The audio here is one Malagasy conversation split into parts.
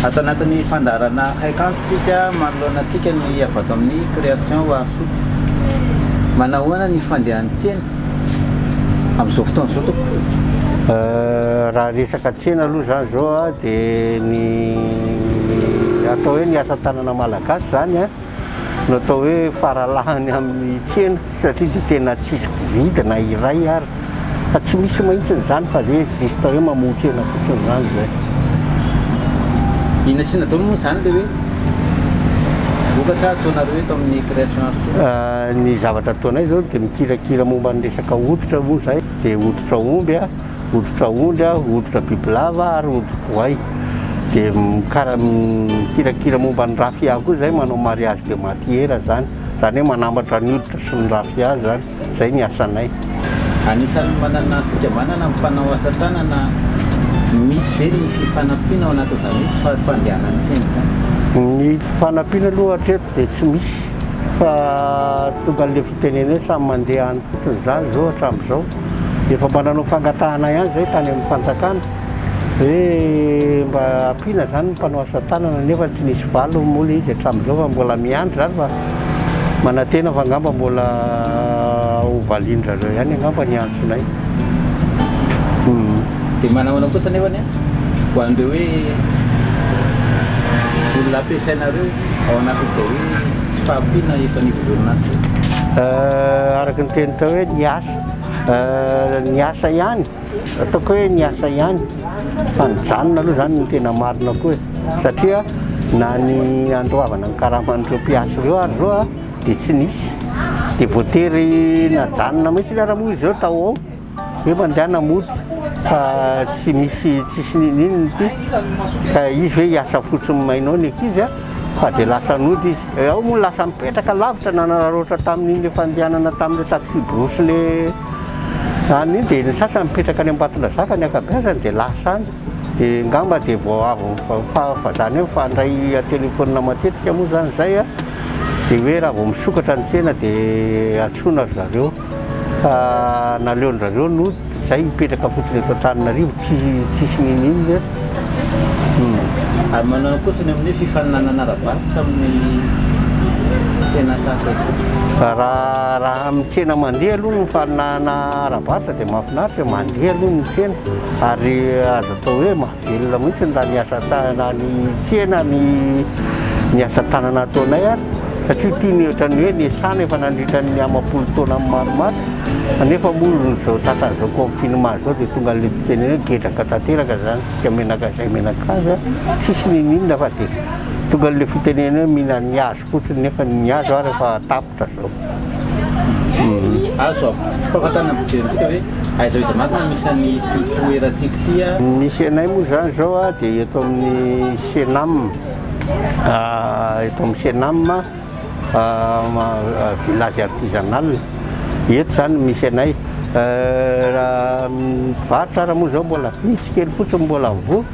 Ato anatin'ny fandaharana Haik'antsy isika manoloana antsika ny avy ato amin'ny Création Wahasoa. Manahoana ny fandehan'ny tsena amin'izao fotoana izao tompoko? Raha resaka tsena aloha izany izao dia ny atao hoe ny asa tanana malagasy izany no atao hoe faralahany amin'ny tsena satria dia tena tsisy mpividy na iray ary fa tsy misy mahitsiny izany fa zay juste hoe mamoa-tsena fotsiny izany zay. Iny asiana daholo moa izany ilay hoe vokatra ataonareo eto amin'ny création art zao? Ny zavatra ataonay izao dia mikirakira momba ny resaka hoditra moa izay dia hoditra omby. hoditra ondry, hoditra bibilava ary hodi-boay dia mikara mikirakira momba ny rafia koa zay manao mariage de matière zany zany hoe manambatra ny hoditra sy ny rafia zany zay ny asanay. Anisan'ny manana fikambanana ny mpanao asa tanana, misy ve ny fifanampiana ao anatin'izany hoe tsy fahandianan'ny tsena izany? Ny fifanampiana aloha hatreto dia tsy misy fa tonga an'ilay fitenenana hoe samy mandeha any fotsiny izany izao hatramin'izao. Efa mba nanao fangatahana ihany izay tany amin'ny fanjakana hoe mba ampiana izany ny mpanao asa tanana nefa tsy nisy valiny moa ilay izy hatramin'izao fa mbola miandry izany fa manantena fa angamba mbola ho valian-dry zareo ihany angamba ny antsonay. Dia manahoana kosa nefany an, ho an'ireo hoe olona ampiasainareo? ao anatin'izay hoe tsy fahampiana eto anivon'ny orinasa io? Araka ny teny tao hoe ny asa, ny asa ihany, ataoko hoe ny asa ihany fa nijanona aloha izany no tena marina koa e, satria na ny handoavana ny karaman'ireo mpiasa ireo ary zao dia tsy nisy, dia voatery najanona mihitsy ny hiaraha-monina izy ireo tao ho ao. Hoe mandehana mody fa tsy misy tsisy nininininy ity ka izy hoe hiasa fotsiny mainao ny ankizy a! fa dia lasa nody izy. Eh, ao moa lasa nipetraka lavitra nanararaotra tamin'iny efa andehanana tamin'ilay taxi-brousse ilay any iny dia ny sasany mipetraka any Ambatondrazaka ny ankabeazany dia lasa any dia ngamba dia vao avy fa fa zany hoe mifandray an-telefaonina matetika moa zany zay a dia hoe raha vao misokatra ny tsena dia antsoina ry zareo. Fa naleon-dRareo no zay hipetraka fotsiny eto Antananarivo, tsy tsisy ninoninona eto. Humm. Ary manao akoso ny amin'ny fifaninanana ara-barotra amin'ny tsena tahaka izao? Fa raha raha amin'ny tsena mandeha aloha ny fifaninanana ara-barotra dia mahafinaritra e, mandeha aloha ny tsena ary azo atao hoe ma. Velona mihitsy ny raha ny asa tanana ny tsena ny ny asa tanana ataonay ary satria ity ny ohatran'ny hoe nesana efa nandritra ny amam-polo taona maromaro kanefa moa izao tratr'izao confinement izao dia tonga an'ilay fiteny hoe gedraka tanteraka izany isika menaka izay menaka azy a tsisy n'inon'inona fa dia tonga an'ilay fitenena hoe mihinan'ny hazo fotsiny nefa ny azo ary efa tapitra zao. Azo ampahafantarina ny mpijery antsika hoe aiza aiza marina no misy an'ity toerantsika ity a? Ny misy anay moa izany izao a dia eto amin'ny Cenam, eto amin'ny Cenam village artisanal, eto izany no misy anay. Raha ny mpivarotra ary moa izao mbola vitsy kely fotsiny mbola mivoha.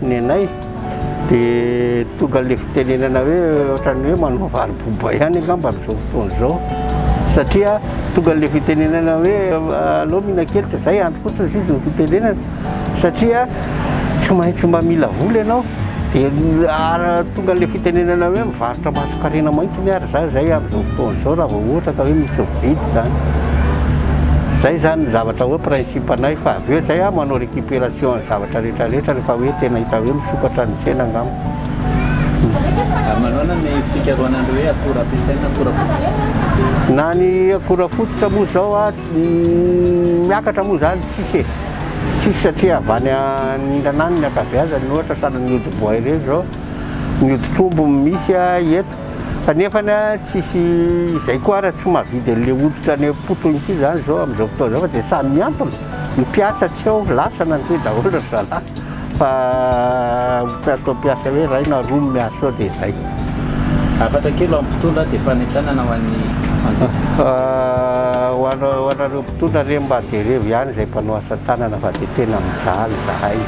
Ny anay dia tonga ilay fitenenana hoe ohatran'ny hoe manao vary boba ihany angamba amin'izao fotoana izao satria tonga ilay fitenenana hoe aleo mihinan-keloka izay andro fotsiny sisa ny fitenenana satria tsy maintsy mba mila vola ianao dia tonga ilay fitenenana hoe mivarotra masonkarena mahitsy ny ary za izay amin'izao fotoana izao raha vao ohatra ka hoe misy mividy izany izay izany ny zavatra hoe principe anay fa avy eo izay aho manao Récupération ny zavatra rehetra rehetra rehefa hoe tena hita hoe misokatra ny tsena angamba. Manaona ny fikarohana an'ireo hoe akora ampiasaina na akora fototra? Na ny akora fototra moa izao miakatra moa izany tsisy e. Tsisy satria avy any anindana any ny ankabeazany ohatra sahala ny hodi-boay ireny izao ny hodi-trombo misy eto. Fa nefany a, tsisy izay koa ara tsy mahavidy an'le hoditra any am-poto intsony zany zao am'zao fotoana zao fa de samy miantona. Ny mpiasa tsy ao, lasa nandeha daholo ry zalahy fa ataoko mpiasa hoe ray na roa no miasa ao de zay. Hafatra kely ho an'ny mpitondra de fanentanana ho an'ny mpanjifa. Ho ana- ho anareo mpitondra re mba jerevo ihany zay mpanao asa tanana fa de tena mijaly zahay.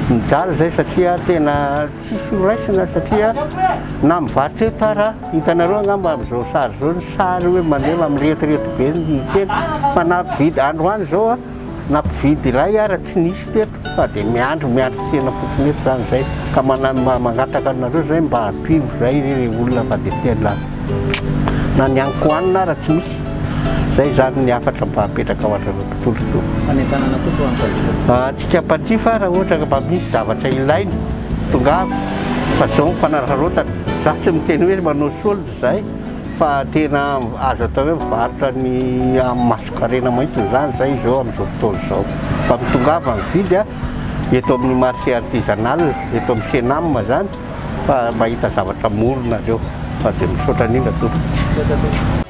Mijaly zay satria tena. Tsisy ho raisina satria na mivarotra eto ara, hitanareo angamba amin'izao sary izao ny sary hoe mandeha miretirety be ny tsena fa na mpividy androany izao na mpividy iray ara tsy nisy teto fa dia miandry miandry tsena fotsiny eto izany izay ka mangataka anareo izay mba ampio izay re ilay olona fa dia tena na ny haninkohanina ara tsy misy, izay izany ny hafatra mba apetraka ho anareo. tolotra. Fanentanana kosa ho an'ny mpanjifa tsy mpanjifa. Antsika mpanjifa raha ohatra ka mba misy zavatra ilaina, tongava fa izao ny fanararaotana. Za tsy miteny hoe manao solde izay fa tena azo atao hoe mivarotra ny amin'ny masonkarena mihitsy izany izay izao amin'izao fotoana izao. Fa mitongava mividy eto amin'ny marché artisanal, eto amin'ny Cenam izany fa mahita zavatra mora nareo. Fa dia misaotra indrindra tompoko. Misaotra tompoko.